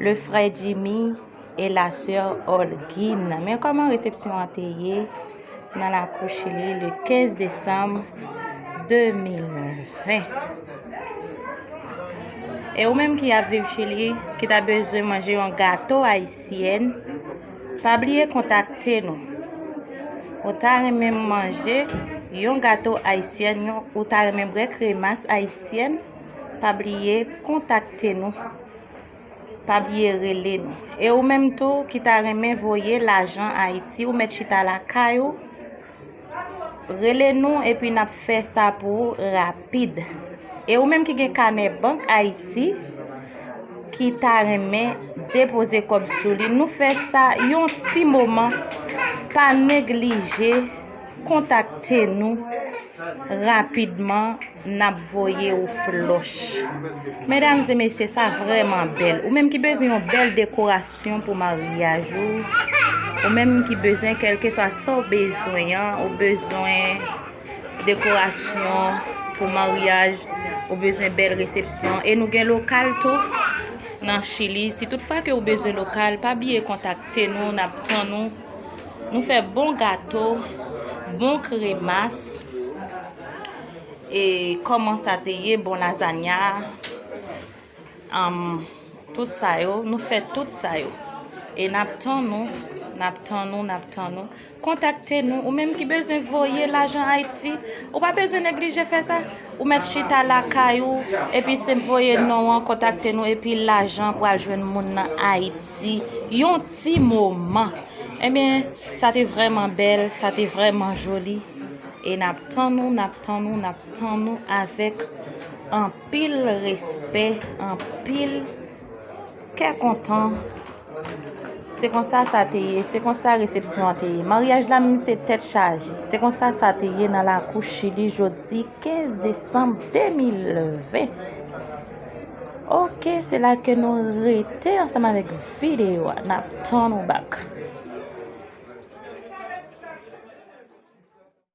Le frè Jimmy et la sè Olguin. Men kòman resepsyon an te ye nan lakou Chili le 15 desanm 2020. E ou menm ki ap viv Chili, ki ta bezwen manje yon gato ayisyen, pa bliye kontakte nou. Ou ta renmen manje yon gato ayisyen, ou ta renmen bre kremas ayisyen, pa bliye kontakte nou. Pa bliye rele nou. E ou menm tou ki ta renmen voye lajan Haïti ou met chita lakay ou rele nou epi nap fè sa pou ou rapid. E ou menm ki gen kanè bank Haïti ki ta renmen depoze kob sou li nou fè sa yon ti moman pa neglije kontakte nou rapidman. Nap voye ou floch. Medam e mesye sa vreman bel. Ou menm ki bezwen yon bel dekorasyon pou maryaj ou. Ou menm ki bezwen kelke swa sa ou bezwen an. Ou bezwen dekorasyon pou maryaj. Ou bezwen bel resepsyon. E nou gen lokal tou nan chili. Si tout fwa ke ou bezwen lokal. Pa biye kontakte nou. Nap tan nou. Nou fe bon gato. Bon kremas. E koman sa te ye bon lasagna um tout sa yo nou fè tout sa yo e nap tann nou nap tann nou nap tann nou kontakte nou ou menm ki bezwen voye lajan ayiti ou pa bezwen neglije fè sa ou mèt chita lakay ou epi senp voye non an kontakte nou epi lajan pral jwenn moun nan ayiti yon ti moman ebyen sa te vrèman bèl sa te vrèman joli. E nap tann ou nap tann ou nap tann ou avèk anpil respè anpil kè kontan se konsa sa te ye se konsa resepsyon an te ye maryaj la menm se tèt chaje se konsa sa te ye nan lakou chili jodi 15 desanm 2020 ok se la ke nou rete ansanm avèk videyo a nap tann ou bak.